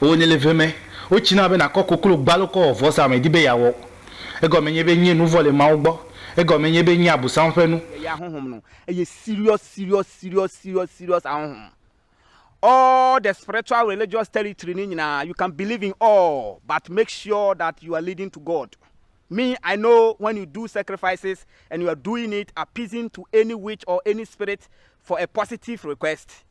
Ewɔ nɛ le ve mɛ. Wotsi na be nàkɔ koklo gbe alo kɔ wɔ vɔsa medi be yeawɔ. Egɔme nye be nye nu vɔ̃ le Mawu gbɔ. Egɔme nye be nye Abosam ƒe nu. Le ya ahonhom nu eye serious serious serious serious serious ahonhom all the spiritual religious territory ni nyina you can believe in all but make sure that you are leading to God. Me I know when you do sacrifices and you are doing it appeasing to any witch or any spirit for a positive request.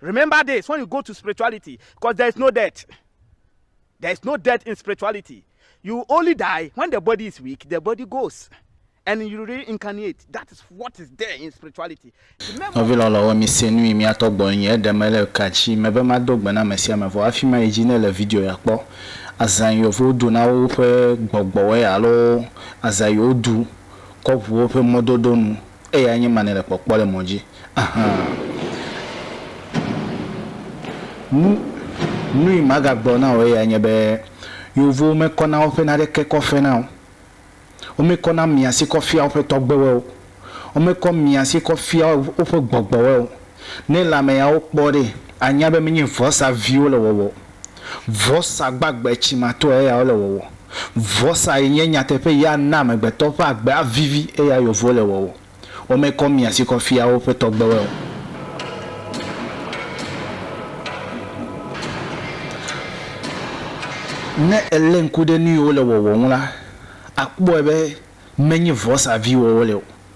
Remember this when you go to spirituality cause there is no death there is no death in spirituality you only die when the body is weak the body goes and you reincarnate that is what is there in spirituality. Nɔvi lɔlɔ̃wo mise nu yi mía tɔ gbɔ enye eɖe me le ka dzi me be mado gbe na ame sia ame vɔ hafi mayi dzi ne le video ya kpɔ azã yi wovo do na woƒe gbɔgbɔwɔe alo azã yi wodu kɔ ʋu woƒe mɔdodo nu. Eyae nye ma nèle kpɔkpɔ le mɔ dzi. Aha! Nu, nui magagblɔ na wò eyae nye be, Yeovowo mekɔna woƒe naɖeke kɔ fena o. Womekɔna miãsi kɔ fiaa woƒe tɔgbewoe o. Womekɔ miãsi kɔ fiaa woƒe gbɔgbɔwoe o. Ne lãmeyawo kpɔ ɖe, anya be menye vɔsa viwo le wɔwɔ o. Vɔsa gbagbe tsimatɔe ya wole wɔwɔ. Vɔsa yi nye nyateƒe yi ana amegbetɔ ƒe agbe avivi eya yewo le wɔwɔ. Womekɔ mia si kɔ fia woƒe tɔgbewoe o. Ne èlé ŋku ɖe nu yi wole wɔwɔ ŋu la, àkpɔe be menye vɔsa viwo wole o.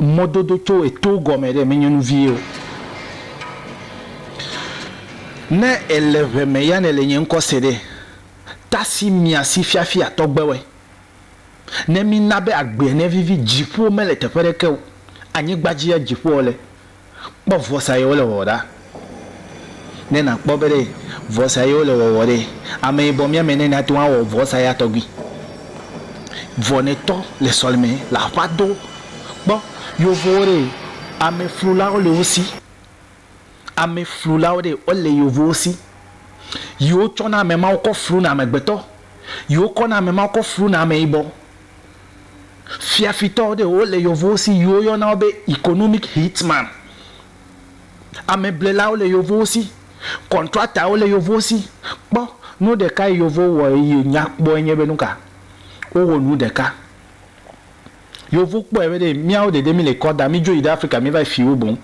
mɔdodo tso eto gɔme ɖe menye nu vie o. Ne èle ʋe me ya nèle nye ŋkɔ se ɖe, tasi mia si fiafia tɔgbewoe. Ne mina be agbeɛ nevivi, dziƒowo mele teƒe ɖeke o, anyigba dzie dziƒowo le. Kpɔ vɔsa ye wole wɔwɔ ɖa. Ne nakpɔ be ɖe vɔsa ye wole wɔwɔ ɖe, ameyibɔ mía me ne nate ŋu awɔ vɔsa ya tɔgbi. Vɔ ne tɔ le sɔleme le aƒa do kpɔ yovowo ɖe, ame flulawo le wo si. Ame flulawo ɖe wole yovowo si. Yi wo tsɔ na ame mawo kɔ flu na amegbetɔ. Yi wo kɔ na ame mawo kɔ flu na ameyibɔ. fiafitɔwo ɖe wo le yevuwo si yi wo yɔna wo be economic hitman, ameblelawo le yevuwo si, kɔntratawo le yevuwo si. Kpɔ nu ɖeka yi yevuwo wɔ yi nya kpɔe nye be nuka? Wo wɔ nu ɖeka. Yevu kpɔe be ɖe miawo ɖeɖe mi le kɔ da, mi dzo yi ɖe Afrika mi va yi fi wo boŋ.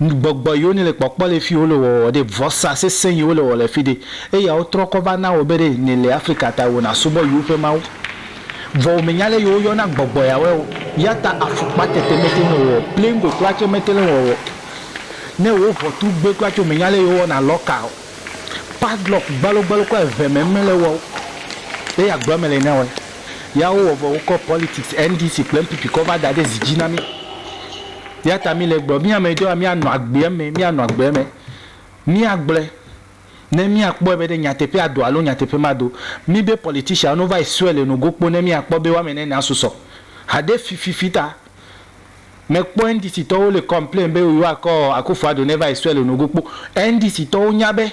Gbɔgbɔ yiwo nele kpɔkpɔ le fi wole wɔwɔ ɖe, vɔsa sesẽ yiwo le wɔwɔ le fi ɖe, eya wotrɔ kɔ va na wò be ɖe nèle Afrika ta wò nàsubɔ yiwo ƒe mawu. Vɔ wò mènya ale yi woyɔna gbɔgbɔ yawoe o. Eya ta afukpa tete mete ŋu le wɔwɔ o, plingo kura tsɛ mete le wɔwɔ o. Ne wò ʋɔtru gbe kura tsɛ wò mènya ale yi wowɔna lɔka o. Padlock gbalogbalo kura eve me mele wɔ o. Eya agblɔ eme le nɛwoe. Ya wowɔ vɔ wokɔ politics, NDC kple NPP kɔ va da ɖe zi dzi na mí. Eya ta míle egblɔm, mí ame etɔ̃ ya míanɔ agbe eme, míanɔ agbe eme. Míagblɔe ne míakpɔe be ɖe nyateƒea do alo nyateƒe mado. Míbe politician wo va yi sɔe le nogo kpo ne míakpɔ be woame ene na susɔ. Haɖe fififi ta mekpɔ NDC tɔwo le complain be yewoakɔ Akuffo Addo ne va yi sɔe le nogo kpo. NDC tɔwo nya be.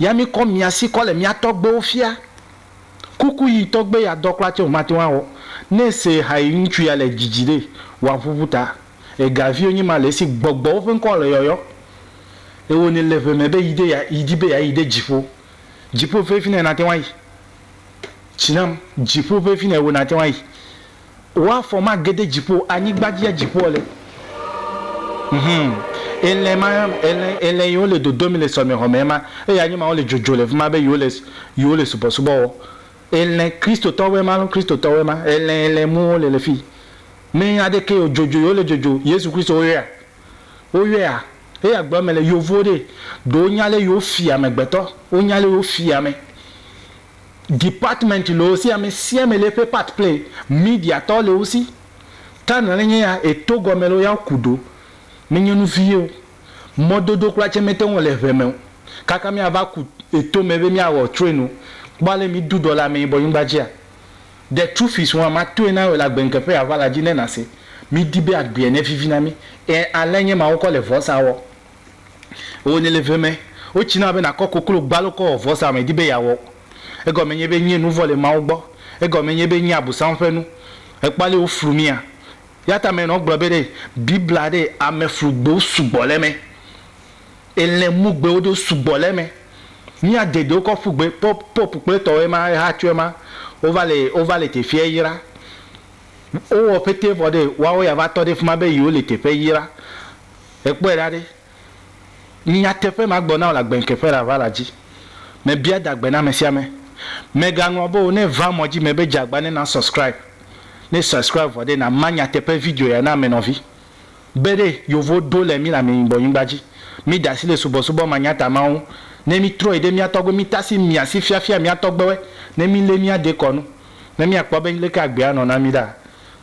ya mi kɔ mia si kɔ le mia tɔgbewo fia. Kuku yi tɔgbe ya dɔ kura tse wò mate ŋu awɔ. Ne ese ha yi ŋutsu ya le dzidzi ɖe, wòa ʋuʋu ta. Ega viwo nyi ma le esi gbɔgbɔwo ƒe ŋkɔ le yɔyɔ. Ewɔ ne le ʋe me be yi de ya yi di be ya yi ɖe dziƒo. Dziƒo ƒe fine nate ŋu ayi. Tsi nam, dziƒo ƒe fine wo nate ŋu ayi. Wo afɔ ma gede dziƒo o, anyigba dzi ya dziƒoa le. Hum. Elɛ ma, elɛ, elɛ yi wo le dodo mi le sɔmɛxɔ mɛ ma, eya nyi ma wo le dzodzo le fima be yi wo le, yi wo le subɔsubɔ wɔ. Elɛ Kristotɔwoe ma lo, Kristotɔwoe ma. Elɛ, elɛ mu wo le le fi. Mɛ aɖeke o, dzodzo yi wo le dzodzo. Yesu Kristo wo yɔɛa? Wo yɔɛa? Eya gblɔ mɛ le yovo ɖee. Ɖo wo nya lé yi wo fia amɛgbetɔ. Wo nya lé yi wo fia amɛ. Department loo si ame sia ame le eƒe part play, media tɔ le wosi, ta nɔle nye ya e to gɔme loo ya wo ku ɖo, me nye nu vie o, mɔdodo kpla tse me te ŋu le ŋɛ me o, kaka mia va ku e to me be mia wɔ train o, kpɔ ale mi ɖu ɖɔ le ame yibɔ nyigba dzi a. The truth is hua ma toe na wɔ le agbe ŋkeƒe ya va la dzi ne na se mi di be agbea ne vivi na mi, e ale nye ma wo kɔ le vɔsa wɔ. Wò nye leve me. Wotsi na be nàkɔ koklo gbalo kɔ wɔ vɔsa mèdi be yeawɔ o. Egɔme nye be nye nu vɔ̃ le Mawu gbɔ. Egɔme nye be nye Abosam ƒe nu. Èkpɔa ale woflu mía. Eyata menɔ gblɔ be ɖe Biblia ɖe ame flu gbewo sugbɔ le eme. Elɛ mu gbewo ɖewo sugbɔ le eme. Mía dedewo kɔ ƒu gbe. Pope, pope kple etɔwo ema, eha tsɔ ema. Wova le, wova le teƒea yra. Wowɔ ƒete vɔ ɖe woawo ya va tɔ ɖe fima be yewo le teƒe yra. Èkpɔe ɖa ɖe? Nyateƒe ma gblɔ na wò le agbenke ƒe ɖava la dzi. Mebia adagbe na amesiame. Mègaŋlɔ be o ne va mɔ dzi me be dze agba ne na subscribe. Ne subscribe vɔ ɖe, na ma nyateƒe video ya na ame nɔvi. Be ɖe yovo ɖo le mi le ame yibɔ nyigba dzi. Mi da asi le subɔsubɔ manyata mawo ŋu. Ne mi trɔyi ɖe mia tɔgbe mi tasi mia si fiafia mia tɔgbewe ne mi le mia dekɔ nu. Ne mia kpɔ be leke agbea nɔ na mi ɖa.